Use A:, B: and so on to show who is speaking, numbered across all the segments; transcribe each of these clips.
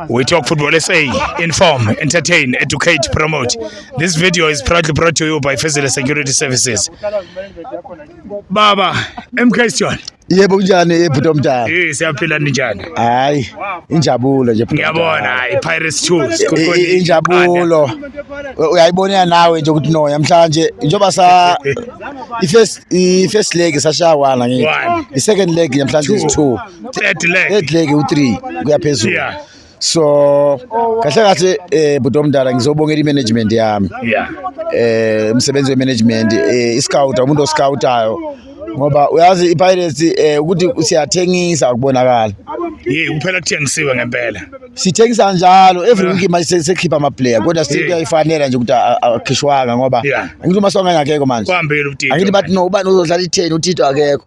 A: We talk football SA, inform, entertain, educate, promote. This video is proudly brought to you by Fezile Security Services. Baba, MK Stone. Yebo kunjani
B: ebhuti omdala? Eh siyaphila ninjani?
A: Hayi,
B: injabulo nje bhuti. Ngiyabona hayi Pirates
A: Choose. Injabulo.
B: Uyayibona nawe nje ukuthi no namhlanje njoba sa i first i first leg sashawana ngithi. I second leg namhlanje is 2. third leg third leg u3 kuya phezulu yeah so kahle kahle eh budo omdala ngizobongela imanagement yami yeah eh
A: umsebenzi wemanagement
B: eh iscout umuntu oscoutayo ngoba uyazi iPirates eh ukuthi siyathengisa ukubonakala Yey kuphela
A: kuthengisiwe ngempela. Sithengisa
B: njalo every week manje sekhipha ama player kodwa still kuyayifanela nje ukuthi akhishwanga ngoba ngithi uma songa ngakekho manje. Kwambile uTito. Angithi bathi no
A: ubani uzodlala
B: i10 uTito akekho.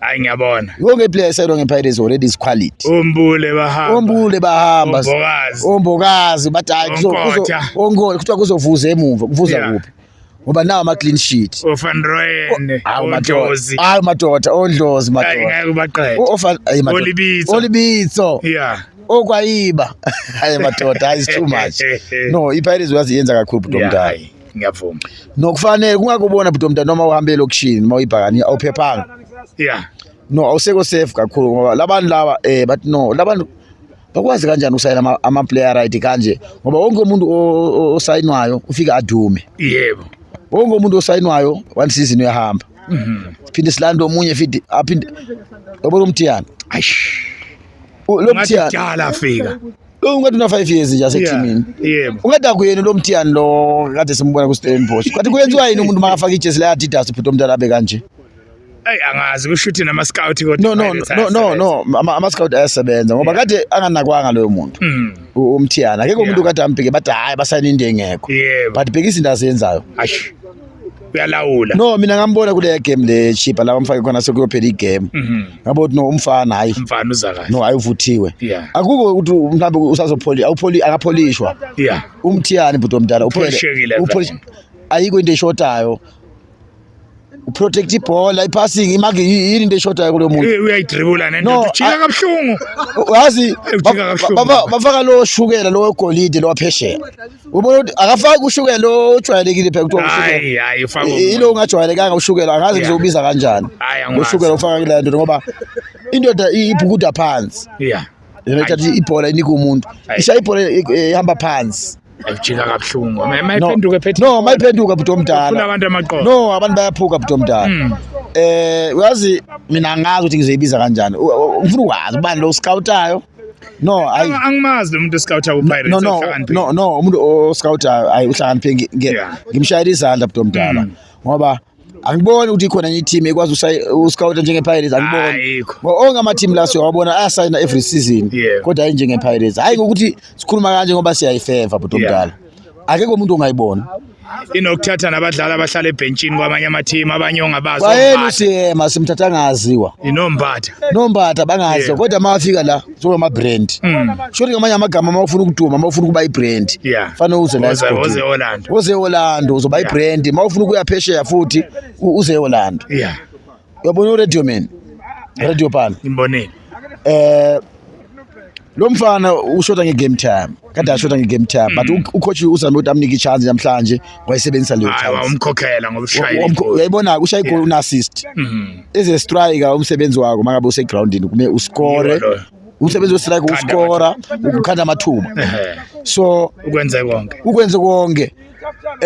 B: Hayi
A: ngiyabona. Wonke player eselwa
B: ngePirates already is quality. Umbule bahamba.
A: Umbule bahamba. Umbokazi. Umbokazi
B: bathi hayi kuzokuza onkolo kuthiwa kuzovuza emuva. Kuvuza kuphi? Ngoba nawo ama clean sheet. Ofan Royen.
A: Hayi madoda. Hayi madoda,
B: ondlozi madoda. Hayi ngeke ubaqede. Ofan hayi madoda.
A: Olibitso. Olibitso.
B: Yeah. Okwayiba. Hayi madoda, hayi too much. No, iPirates uyazi yenza kakhulu bro mdala. ngiyavuma
A: nokufanele
B: kungakubona bhuti omntana noma uhambe elokishini uma uyibhakani awuphephanga yeah no awusekho safe kakhulu ngoba labantu laba eh but no labantu bakwazi kanjani ukusayina ama-player right kanje ngoba wonke umuntu osayinwayo ufike adume yebo
A: wonke umuntu
B: osayinwayo one season uyahamba mhm. siphinde silande omunye fidi aphinde yabona umthiyana lo mthiyana afika
A: Lo ungathi una 5
B: years nje aseteamini. Yebo. Ungathi akuyena
A: lo mthiyani
B: lo kade simbona ku Stellenbosch. Kathi kuyenziwa yini umuntu makafaka ijezi la Adidas ubhuti omntana abe kanje? Ey angazi
A: kusho ukuthi nama scout kodwa. No no no no no
B: ama, ama scout ayasebenza ngoba kade anganakwanga loyo muntu. Mm. U- Umthiyana. Akekho umuntu kade ambheke bathi hayi basayina into engekho. Yebo. But bhekisa into azenzayo. Ash.
A: uyalawula no mina ngambona
B: kule game le chipa la bamfake khona sekuyophela igame mhm. ngabo ukuthi no umfana hayi umfana uza kahle no hayi
A: uvuthiwe
B: akukho ukuthi mhlawumbe usazopholi awupholi akapholishwa yeah umthiyani bhuti omdala uphele upholishekile ayikho into eshotayo uprotect ibhola ipassing imake yini into eshodayo kulo muntu eh, uyayidribula nento
A: ujika kabuhlungu wazi
B: bafaka lo shukela lo golide lo waphesheya ubona ukuthi akafaki ushukela ojwayelekile phela kuthiwa hayi hayi ufaka yilo
A: ungajwayelekanga
B: ushukela angazi ngizobiza kanjani ushukela ufaka kule nto ngoba indoda ibhukuda phansi yeah yena ithatha ibhola inika umuntu isha ibhola ihamba phansi ayijika kabuhlungu
A: mayiphenduke phethe no mayiphenduka bhuti omdala
B: ufuna abantu amaqoqo no
A: abantu bayaphuka
B: bhuti omdala hmm. eh uyazi mina ngazi ukuthi ngizoyibiza kanjani ngifuna ukwazi ubani lo scoutayo no hayi angimazi lo muntu
A: oscout ku Pirates no no no no umuntu
B: oscout hayi uhlakaniphe ngimshayela izandla bdo mdala mm. ngoba angiboni ukuthi khona enye team ekwazi uscout njenge Pirates angiboni onke ama team la siyawabona ayasayina every season kodwa hayi njenge Pirates hayi ukuthi sikhuluma kanje ngoba siyayifeva bdo mdala akekho umuntu ongayibona inokuthatha
A: nabadlali abahlala ebhentshini kwamanye amathimu abanye ongabazi kwayena ucm
B: asimthatha angaziwa inompatha nompatha bangaziwa kodwa uma afika la njengamabrand mm. shoti ngamanye amagama uma ufuna ukuduma uma ufuna ukuba ibrand fanele uze laoze eorlando uzoba ibrand uma ufuna ukuya phesheya futhi uze eorlando Uyabona uradio man. Radio pan. Ngimbonile.
A: Eh
B: lo mfana ushoda nge-game time kade ashoda nge-game time but mm. ucoach uzame ukuthi amnike i-chance namhlanje wayisebenzisa leyo umkhokhela ngoba
A: ushayile uyayibona-ke ushaye igoli
B: una-assist mm-hmm. as a striker umsebenzi wakho uma ngabe usegroundini kume uskore umsebenzi westrike uskora ukukhanda amathuba so ukwenze konke ukwenze konke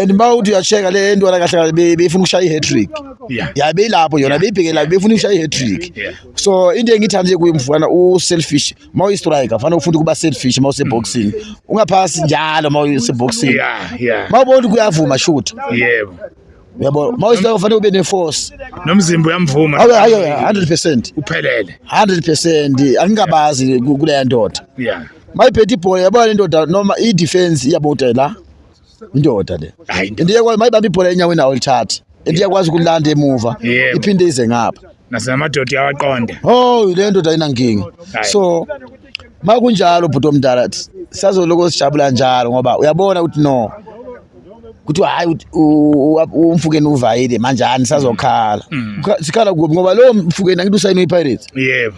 B: and uma uthi uyasheka le ntwana kahle kahle be- beyifuna ukushaya i-hatrick Yeah. ya beyilapho yona beyibheke lapho beyifuna ukushaya i-hatrick Yeah. so into engiyithanda nje kuye mfana u-selfish uma uyi-striker fanele ufunde ukuba selfish uma useboxing ungaphasi njalo uma useboxing Yeah, yeah. uma ubona ukuthi kuyavuma shoot Yebo. yabo uma uyi-striker fanele ube ne-force Nomzimba uyamvuma.
A: awe ayo 100
B: percent uphelele. 100
A: percent
B: angingabazi ku- kuleya ndoda Yeah. mayiphethe ibhola yabona indoda noma i-defense iyaboda la indoda le Hayi, into- and iyakwazi mayibamba ibhola enyaweni nawo lithathe and iyakwazi ukulanda emuva Yebo. iphinde ize ngapha
A: nasenamadoda uyawaqonda oh le ndoda
B: ayinankinga Hayi. so ma kunjalo bhuti omdala th- sazoloko sijabula njalo ngoba uyabona ukuthi no kuthiwa hhayi ut- u- u- umfukeni uvayile manjani sazokhala Mm. Ukha- sikhala kuphi ngoba lowo mfukeni angithi usayine ipirates yebo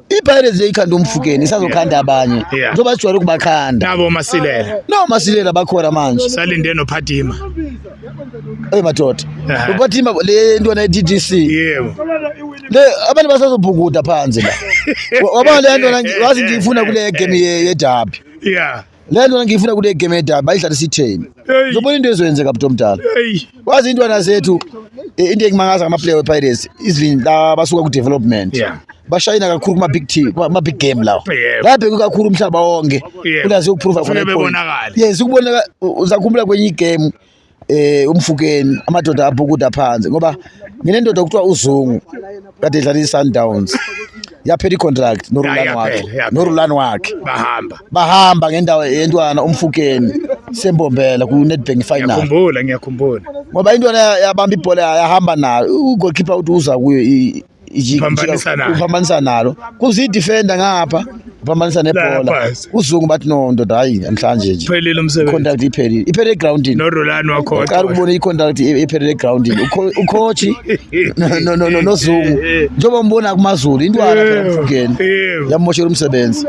B: ipirates yayikhanda umfukeni isazokhanda abanye njengoba sijwayele ukubakhanda nabo masilela
A: no masilela
B: bakhona manje salinde nophatima ey madoda uphatima le ntwana ye-ddc yebo
A: le
B: abantu basazobhukuda phansi la wabona le ntwana wazi ngiyifuna kule game yedabi yeah le
A: nto ngiyifuna kule
B: game yedaba bayidlala isitheni zobona into ezoyenzeka bhuti omdala wazi intwana zethu eh, into engimangaza ngamaplayer wepirates even la basuka ku-development yeah bashayina kakhulu kuma big team kuma big game lawo labheke kakhulu umhlaba wonke ulazi ukuprova khona yes ukubona uzakhumbula kwenye igame eh umfukeni amadoda abhukuda phansi ngoba nginendoda okuthiwa uzungu kade idlala iSundowns yaphela icontract norulani wakhe norulani wakhe bahamba bahamba ngendawo yentwana umfukeni sembombela ku Nedbank final ngiyakhumbula ngiyakhumbula
A: ngoba intwana
B: yabamba ibhola yahamba nayo ugoalkeeper uthi uza kuyo uphambanisa nalo kuze idefender ngapha uphambanisa nebhola uzungu bathi no ndoda hayi namhlanje nje phelile umsebenzi contract
A: iphelile iphelele
B: egroundini no Rolani wakho uqala
A: ukubona icontract
B: iphelele egroundini ucoach no no no nozungu njengoba umbona kumazulu intwana phela mfukeni yamoshela umsebenzi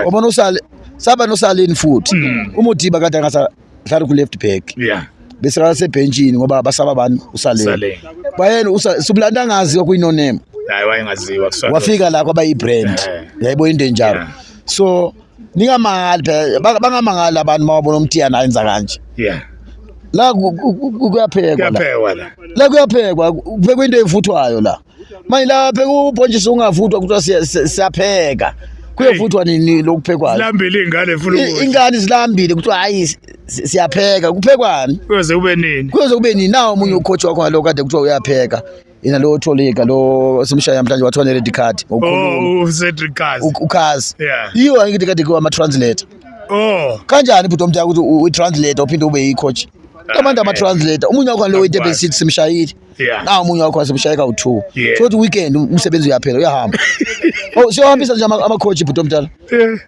B: ubona usale saba nosalini futhi hmm. umudiba kade angasa mhlawumbe ku-left back yeah bese basebhentshini ngoba basaba abantu usalele bayena usubulanda angazi okuyinonema hayi wayengaziwa
A: kusona wafika la kwaba ibrand
B: eh. yayibo into enjalo so ningamangali phela bangamangali abantu mawabona umtiyana ayenza kanje yeah la kuyaphekwa la kuyaphekwa kuphekwa into evuthwayo la manje lapha kubhontshisa ungavuthwa kuthiwa siyapheka kuyovuthwa nini lokuphekwayo zilambile ingane funa
A: ukuthi ingane zilambile
B: kuthiwa hayi siyapheka kuphekwani kuyoze kube nini
A: kuyoze kube nini nawo omunye ucoach wakho ngalo
B: kade kuthiwa uyapheka yena lo tholika lo simshaya namhlanje wathiwa ne red card ngokukhuluma oh, uCedric
A: Kazi uKazi
B: yiyo angithi kade kuwa ama translator oh kanjani bhuti omdala ukuthi u translator uphinde ube yi coach kamanda ama translator umunye wakho ngalo wetebesithi simshayile yeah. na omunye wakho wasemshaya kawu-two yeah. so ukuthi weekend um, umsebenzi uyaphela uyahamba oh, siyohambisa nje amakhoji bhuti omdala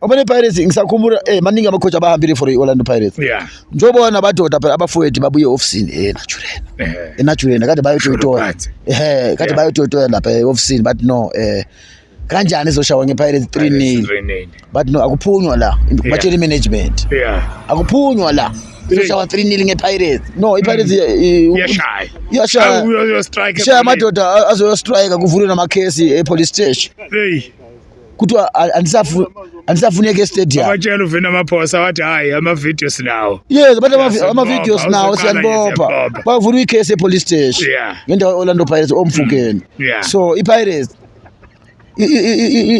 B: oba ne-pirates ngisakhumbula um maningi amakhoji abahambile for i-orlando pirates yeah. njobona nabadoda phela abafowethu babuye ofisini e naturena yeah. enatshurena kade bayotoyitoya ehe kade yeah. bayotoyitoya lapha e-ofisini but no um kanjani izoshawa ngepirates 3 nil but no akuphunywa la batshela imanagement akuphunywa la izoshawa 3 nil ngepirates no ipirates mm. iyashaya iyashaya amadoda azoyostrike kuvulwe namakhesi epolice station kuthiwa andisafuneki estadium abatshela uvina amaphosa
A: wathi hayi amavidiyo sinawo yes abantu
B: amavidiyo sinawo siyanibopha bavula ikhesi epolice station ngendawo orlando pirates omfukeni mm. so ipirates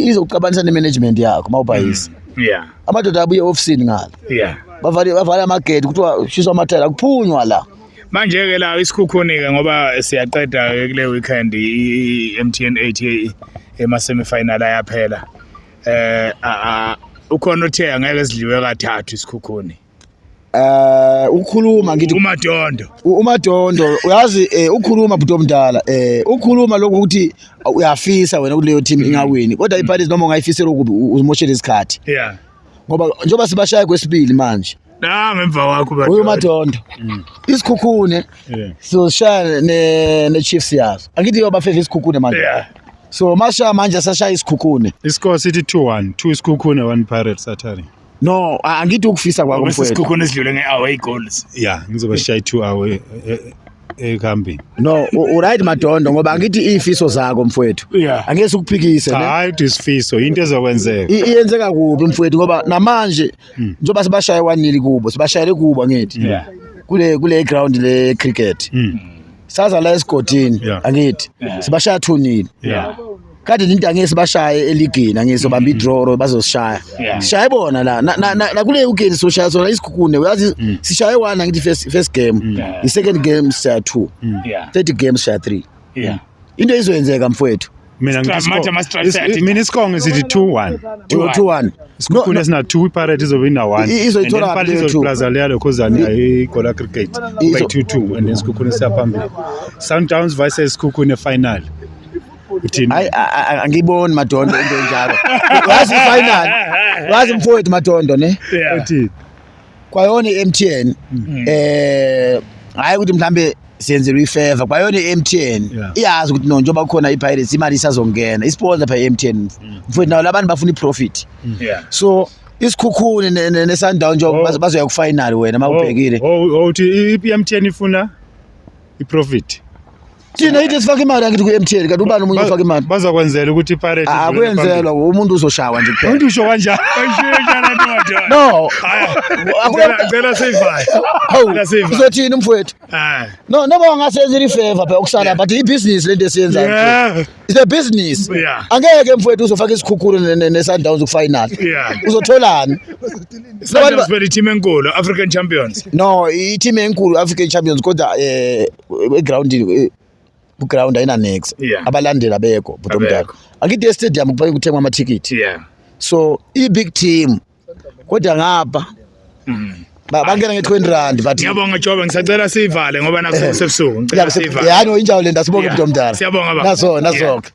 B: izokucabanisa ne-management yakho uma ubhayisa mm. yeah. amadoda abuye ofisini ngala yeah. bavale bavale amagedi kuthiwa ushiswa amathela akuphunywa la manje ke la
A: isikhukhunike ngoba siyaqeda ke kule weekend i-MTN 8 ema semi final ayaphela eh ukhona othe angeke sidliwe kathathu isikhukhuni Eh ukhuluma
B: ngithi uMadondo. UMadondo uyazi eh, ukhuluma bhuti omdala eh ukhuluma lokho ukuthi uyafisa wena kuleyo team ingawini kodwa iPirates noma ungayifisela ukubi uzimoshela isikhathi. Yeah. Ngoba njengoba sibashaya kwesibili manje. Na ngemva wakho
A: bathi. Uyu Madondo.
B: Mm. Isikhukhune. Yeah. So shaya ne ne Chiefs yazo. Angithi yoba favor isikhukhune manje. Yeah. So masha manje sashaya isikhukhune. Iscore sithi 2-1,
C: 2 isikhukhune 1 Pirates Saturday. No, angithi
B: ukufisa kwakho mfowethu. Sikhukhona esidlule ngeaway
A: goals. Yeah, ngizoba shy 2
C: away eh, eh, eh, ekhambini. No, u
B: right Madondo ngoba angithi izifiso zakho mfowethu. Yeah. Angeke sikuphikise ne. Hayi uthi isifiso into
C: ezokwenzeka. Iyenzeka kubi
B: mfowethu ngoba namanje hmm. njoba sibashaye wanili kubo, sibashayele kubo ngithi. Yeah. Kule kule ground le cricket. Mm. saza la esigodini Yeah. angithi sibashaya 2 nil Yeah. kade ninto angeke sibashaye eligini angeke sobamba idraw or bazosishaya Yeah. sishaye bona la na- na- na- nakule weekend soshaya sona isikhukhune uyazi Mm. sishaye one angithi first first game Yeah. i second game sishaya 2 Yeah. third game sishaya 3 Yeah. into izoyenzeka mfowethu mina Stra- ngithi match ama
C: Stra- is- Saturday. mina isikonge sithi 2-1 2-1 isikhukhula sina 2 iparate izoyina 1 I- izoyithola And then kabi leyo two. izoyiplaza
B: leyo
C: khozani ayigola cricket Izo- by 2-2 and then isikhukhula siyaphambili sundowns versus sikhukhune final
B: uthini hayi a- a- a- angiyiboni madondo into enjalo wazi ifinal wazi mfowethu madondo ne uthini
C: kwayona
B: i-MTN mm. eh hayi ukuthi mhlambe siyenzelwa ifeva kwayona i-MTN iyazi ukuthi no njengoba kukhona i-Pirates imali isazongena isiponsa pha i-MTN mm. mfowethu nawo labantu bafuna i-profit mm. so isikhukhuni nesandawo nje oh. bazoya ku-final wena uma oh, ubhekile oh, uthi
C: i-MTN ifuna i-profit thina
B: ithi sifaka imali angithi ku-mtn kanti ubani omunye ofaka imali bazokwenzela ukuthi iparate
C: Ah, akuyenzelwa umuntu
B: uzoshawa nje kuphela umuntu usho kanjani no
A: Ngicela- ngicela siyivaye Hawu, Ngicela siyivaye
B: uzothini umfowethu Ah, no noma wangasenzela ifeva phela okusala but ibhizinisi lento esiyenzayo yeah, It's a business. Yeah. Angeke mfowethu uzofaka isikhukhulu ne- ne- ne-Sundowns kufinal. Yeah. Uzotholani?
A: Sundowns beli team enkulu african champions No, i-team
B: enkulu African Champions kodwa eh egroundini kuground ayinanix yeah. abalandeli abekho bhuti omdala angithi estadium kufanele kuthengwa amathikithi yeah. so i-big team kodwa ngapha mm. bangena nge-twenty rand but ngiyabonga jobe ngisacela
A: siyivale ngoba
B: nakusebusuku
A: ngicela
B: siyivale
A: yani
B: injalo le nto
A: sibonge
B: bhuti omdala
A: siyabonga
B: baba
A: naso
B: nasoke